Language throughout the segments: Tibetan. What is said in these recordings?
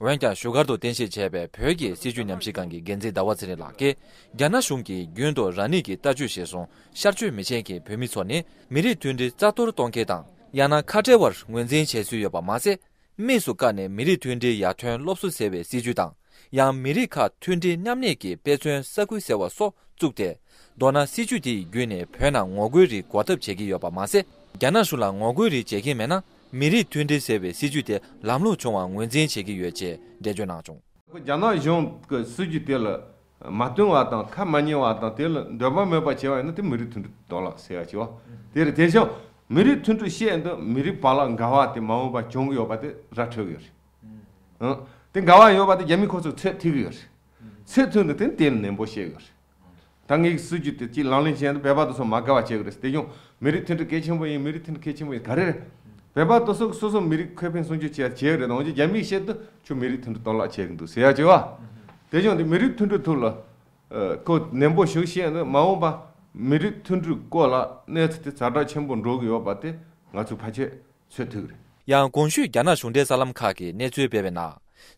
འོན་ཀྱང་བཞུགས་སྒར་དུ་རྟེན་གཞི་བྱས་པའི་བོད་ཀྱི་སྲིད་བྱུས་ཉམས་ཞིབ་ཁང་གི་འགན་འཛིན་ཟླ་བ་ཚེ་རིང་ལགས་ཀྱིས་རྒྱ་ནག་གཞུང་གིས་རྒྱུན་དུ་རང་ཉིད་ཀྱི་ལྟ་སྤྱོད་གཞིར་བཟུང་ཤར་ཆོས་མི་ཆེན་གྱི་བོད་མི་ཚོ་ནི་མི་རིགས་མཐུན་སྒྲིལ་རྩ་གཏོར་གཏོང་མཁན་དང་ཡང་ན་ཁ་བྲལ་བར་ངོས་འཛིན་བྱེད་སྲོལ་ཡོད་པ་མ་ཟད། དམིགས་སུ་བཀར་ནས་མི་རིགས་མཐུན་སྒྲིལ་ཡར་ཐོན་སློབ་གསོ་ཟེར་བའི་སྲིད་བྱུས་དང་ཡང་མི་རིགས་ཁག་མཐུན་སྒྲིལ་མཉམ་གནས་ཀྱི་དཔེ་མཚོན་ས་ཁུལ་ཟེར་བ་སོགས་བཙུགས་ཏེ། མདོར་ན་སྲིད་བྱུས་དེ་ཡི་བརྒྱུད་ནས་བོད་ནང་ངོ་རྒོལ་རིགས་འགོག་ཐབས་བྱེད་ཀྱི་ཡོད་པ་མ་ཟད། རྒྱ་ནག་གཞུང་ལ་ངོ་རྒོལ་རིགས་བྱེད་མཁན་མེད་ན་མི་རིགས་མཐུན་སྒྲིལ་ཟེར་བའི་སྲིད་ཇུས་དེ་ལམ་ལྷོངས་བྱུང་བར་ངོས་འཛིན་བྱེད་ཀྱི་ཡོད་ཅེས་འགྲེལ་བརྗོད་གནང་བྱུང། རྒྱ་ནག་གཞུང་གི་སྲིད་ཇུས་དེ་ལ་མ་བསྟུན་བ་དང་ཁ་མ་ཉན་བ་དང་དེ་ལ་འདོད་པ་མེད་པ་བྱས་པ་ཡིན་ན་དེ་མི་རིགས་མཐུན་སྒྲིལ་གཏོར་བརླག་བྱས་པ་བྱས་པ་དེ་རེད། དེ་བཞིན་མི་རིགས་མཐུན་སྒྲིལ་བྱས་འདི་མི་རིགས་བར་ལ་འགལ་བ་དེ་མ་འོངས་པར་བྱུང་གི་ཡོད་པ་དེ་ར་འཕྲོད་གི་ཡོད་རེད། དེ་འགལ་བ་ཡོད་པ་དེ་རྒྱ་མིའི་ཁོ་ཚོས་ཚད་ཐིག་གི་ཡོད་རེད། ཚད་མཐུན་དུ་དེ་དེ་ནན་པོ་བཤད་གི་ཡོད་རེད། ད་ངའི་གི་སྲིད་ཇུས་དེ་གཅིག་ལག་ལེན་བྱས་འདུག་བོད་པ་དོ་སོ་མ་དགའ་བ་བྱས་གི་རེད་དེ་བྱུང་མི་རིགས་མཐུན་སྒྲིལ་གལ་ཆེན་པོ་ཡིན་མི་རིགས་མཐུན་སྒྲིལ་གལ་ཆེན་པོ་ཡིན་ག་རེ་རེད་བོད་པ་དོ་སོ་སོ་སོ་མི་རིགས་ཁོས་ཕན་སྲུང་ཇུས་བྱས་བྱས་གི་རེད་འོན་ཀྱི་རྒྱ་མིའི་ཤེད་དུ་ཁྱོད་མི་རིགས་མཐུན་སྒྲིལ་གཏོར་བརླག་བྱས་གི་འདུག་ཟེར་ཡག་བྱས་བ། དེ་བྱུང་དེ་མི་རིགས་མཐུན་སྒྲིལ་ཐུགས་ལ་ཁོ་ནན་པོ་ཞུ་ཤེས་འདུག་མ་འོངས་པ་མི་རིགས་མཐུན་སྒྲིལ་སྐོར་ལ་གནས་ཚུལ་དེ་ཛར་དྲག་ཆེན་པོ་འགྲོ་གི་ཡོད་པ་དེ་ང་ཚོའི་ཕ་ཆོས་ཚོད་ཐིག་རེད། ཡང་གོང་ཞུས་རྒྱ་ནག་གཞུང་འབྲེལ་གསར་ལམ་ཁག་གི་གནས་ཚུལ་སྤེལ་བའི་ནང།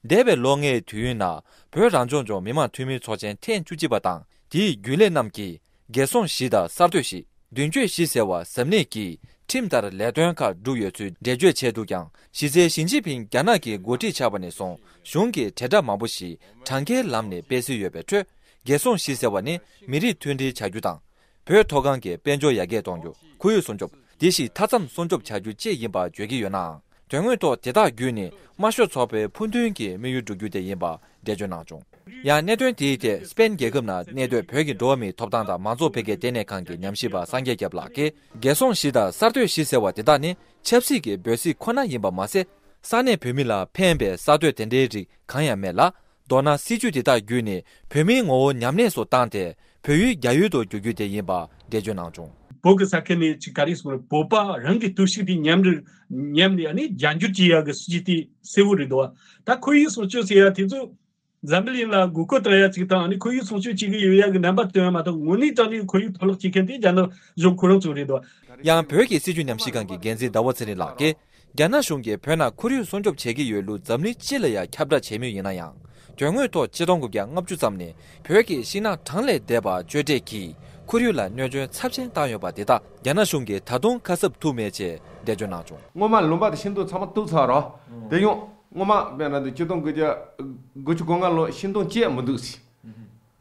འདས་པའི་ལོ་ལྔའི་དུས་ཡུན་ནང་བོད་རང་སྐྱོང་ལྗོངས་མི་དམངས་འཐུས་མིའི་ཚོགས་ཆེན་ཐེངས་བཅུ་གཅིག་པ་དང་དེའི་རྒྱུན་ལས་རྣམས་ཀྱིས་རྒྱལ་སྲུང་བཞི་དང་གསར་གཏོད་བཞི། མདུན་སྐྱོད་བཞི་ཟེར་བ་ཟབ་གནད་ཀྱིས་ཁྲིམས་ལྟར་ལས་དོན་ཁག་བསྒྲུབས་ཡོད་ཚུལ་འགྲེལ་བརྗོད་བྱས་འདུག་ཀྱང་གཞི་རྩའི་ཞིན་ཅིན་ཕིང་རྒྱ་ནག་གི་འགོ་ཁྲིད་ཆགས་པ་ནས་བཟུང་གཞུང་གི་དྲིལ་བསྒྲགས་མང་པོ་ཞིག་གྲངས་ཀའི་ལམ་ནས་སྤེལ་སྲོལ་ཡོད་པའི་ཁྲོད་རྒྱལ་སྲུང་བཞི་ཟེར་བ་ནི་མི་རིགས་མཐུན་སྒྲིལ་བྱ་རྒྱུ་དང་བོད་མཐོ་སྒང་གི་དཔལ་འབྱོར་ཡར་རྒྱས་གཏོང་རྒྱུ་ཁོར་ཡུག་སྲུང་སྐྱོབ་དེ་བཞིན་མཐའ་མཚམས་སྲུང་སྐྱོབ་བྱ་རྒྱུ་བཅས་ཡིན་པ་བརྗོད་ཀྱི་ཡོད་ནའང་དོན་དངོས་ཐོག་དེ་དག་བརྒྱུད་ནས་དམར་ཤོག་ཚོགས་པའི་ཕུགས་འདུན་གྱི་དམིགས་ཡུལ་འགྲུབ་རྒྱུ་དེ་ཡིན་པ་འགྲེལ་བརྗོད་གནང་བྱུང། ཡང་གནད་དོན་དེའི་ཐད་སྤེན་རྒྱལ་ཁབ་ན་གནས་སྡོད་བོད་ཀྱི་འགྲོ་བ་མིའི་ཐོབ་ཐང་དང་མང་ཚོགས་འཕེལ་རྒྱས་ལྟེ་གནས་ཁང་གི་ཉམས་ཞིབ་པ་སངས་རྒྱས་སྐྱབས་ལགས་ཀྱིས། རྒྱལ་སྲུང་བཞི་དང་གསར་གཏོད་བཞི་ཟེར་བ་དེ་དག་ནི་ཆབ་སྲིད་ཀྱི་འབོད་ཚིག་ཁོ་ན་ཡིན་པ་མ་ཟད། ས་གནས་བོད་མི་ལ་ཕན་པའི་གསར་གཏོད་དེ་འདྲའི་རིགས་གང་ཡང་མེད་ལ། མདོར་ན་སྲིད་བྱུས་དེ་དག་བརྒྱུད་ནས་བོད་མིའི་ངོ་བོ་ཉམས་ལེན་སུ་བཏང་སྟེ་བོད་ཡུལ་རྒྱ་ཡུལ་དུ་བསྒྱུར་རྒྱུ་དེ་ཡིན་པ་འགྲེལ་བརྗོད་གནང་བྱུང། བོད་ཀྱི་ས་ཁུལ་ནས་ཅི་ག་རེ་སོང་ལ་བོད་པ་རང་གི་རྟོག་ཞིབ་དེ་ཉམས་རེར་ཉམས་ནས་ནི་རྒྱ་འགྱུར་གྱི་ཡག་གི་སྲིད་བྱུས་དེ་གསལ་བོ་རེད་འདུག་ད་ཁོར་ཡུག་སྲུང་སྐྱོབ་ཟེར་ཡག་དེ་ཚོ་འཛམ་བུ་གླིང་ལ་དགོས་མཁོ་དང་ཡག་ཅིག་དང་ནི་ཁོར་ཡུག་སྲུང་སྐྱོབ་བྱེད་གི་ཡོད་ཡག་གི་རྣམ་པ་སྟོན་མ་ཐག་དངོས་གནས་དང་ནི་ཁོར་ཡུག་འཕྲོ་བརླག་བྱེད་མཁན་དེ་རྒྱ་ནག་གཞུང་ཁོ་རང་ཚོ་རེད་འདུག། ཡང་བོད་ཀྱི་སྲིད་བྱུས་ཉམས་ཞིབ་ཁང་གི་འགན་འཛིན་ཟླ་བ་ཚེ་རིང་ལགས་ཀྱིས་རྒྱ་ནག་གཞུང་གིས་བོད་ནང་ཁོར་ཡུག་སྲུང་སྐྱོབ་བྱེད་ཀྱི་ཡོད་ལུགས་འཛམ་གླིང་སྤྱི་ལ་ཡང་ཁྱབ་བསྒྲགས་བྱས་མུས་ཡིན་ན་ཡང། དོན་དངོས་ཐོག་སྤྱི་སྟོང་དགུ་བརྒྱ་ལྔ་བཅུ་ཙམ་ནས་བོད་ཀྱི་ཤིང་ནགས་གྲངས་ལས་འདས་པ་གཅོད་བྲེག་གིས་ཁོར་ཡུག་ལ་གནོད་སྐྱོན་ཚབས་ཆེན་བཏང་ཡོད་པ་དེ་དག་རྒྱ་ནག་གཞུང་གིས་ད་དུང་ཁ་གསབ་ཐུབ་མེད་ཅེས་འགྲེལ་བརྗོད་གནང་བྱུང། སྔོན་མ་ལུང་པ་དེ་ཤིན་ཏུ་ཚང་མ་གཏུགས་ཚར་རོགས། དེ་ཡང། སྔོན་མ་བོད་ནང་དུ་སྤྱི་སྟོང་དགུ་བརྒྱ་དགུ་བཅུ་གོ་ལྔ་ལོར་ཤིང་སྡོང་སྐྱེས་མི་འདུག་ཟེར།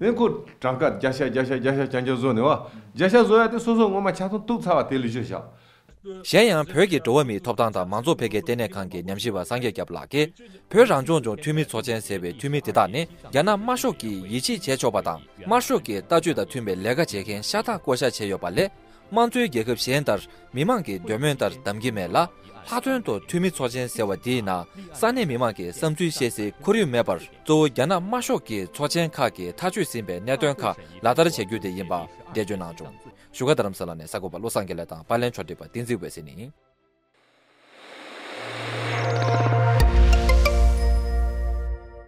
དེ་ཁོ་བྲག་དཀར་རྒྱ་ཤ་རྒྱ་ཤ་རྒྱ་ཤ་ཀྱང་ཀྱང་བཟོ་ནས་བ། རྒྱ་ཤ་བཟོ་ཡ་དེ་སོ་སོ་ངོ་མ་ཆ་ཚང་གཏུགས་ཚར་བ་དེ་ལུས་ཆོད་བཞག། གཞན་ཡང་བོད་ཀྱི་འགྲོ་བ་མིའི་ཐོབ་ཐང་དང་མང་ཚོགས་འཕེལ་རྒྱས་ལྟེ་གནས་ཁང་གི་ཉམས་ཞིབ་པ་སངས་རྒྱས་སྐྱབས་ལགས་ཀྱིས་བོད་རང་སྐྱོང་ལྗོངས་འཐུས་མི་ཚོགས་ཆེན་ཟེར་བའི་འཐུས་མི་དེ་དག་ནི་རྒྱ་ནག་དམར་ཤོག་གིས་ཡིད་ཆེས་བྱས་ཆོག་པ་དང་དམར་ཤོག་གི་ལྟ་སྤྱོད་དང་མཐུན་པའི་ལས་ཀ་བྱེད་མཁན་ཤ་སྟག་བསྐོ་བཞག་བྱས་ཡོད་པ་ལས་དམངས་གཙོའི་རྒྱལ་ཁབ་གཞན་ལྟར་མི་མང་གི་འདོད་མོས་ལྟར་བདམས་ཀྱི་མེད་ལ། ལྷག་དོན་དུ་འཐུས་མི་ཚོགས་ཆེན་ཟེར་བ་འདིའི་ནང་ས་གནས་མི་མང་གིས་བསམ་ཚུལ་བཤད་སའི་ཁོར་ཡུག་མེད་པར་གཙོ་བོ་རྒྱ་ནག་དམར་ཤོག་གི་ཚོགས་ཆེན་ཁག་གིས་ཐག་གཅོད་ཟིན་པའི་གནད་དོན་ཁག་ལག་བསྟར་བྱ་རྒྱུ་དེ་ཡིན་པ་འགྲེལ་བརྗོད་གནང་བྱུང། བཞུགས་སྒར་དྷ་རམ་ས་ལ་ནས་གསར་འགོད་པ་བློ་བཟང་དགེ་ལེགས་དང་པར་ལེན་ཕྱོགས་བསྒྲིགས་པ་བསྟན་འཛིན་འོད་ཟེར་ནི།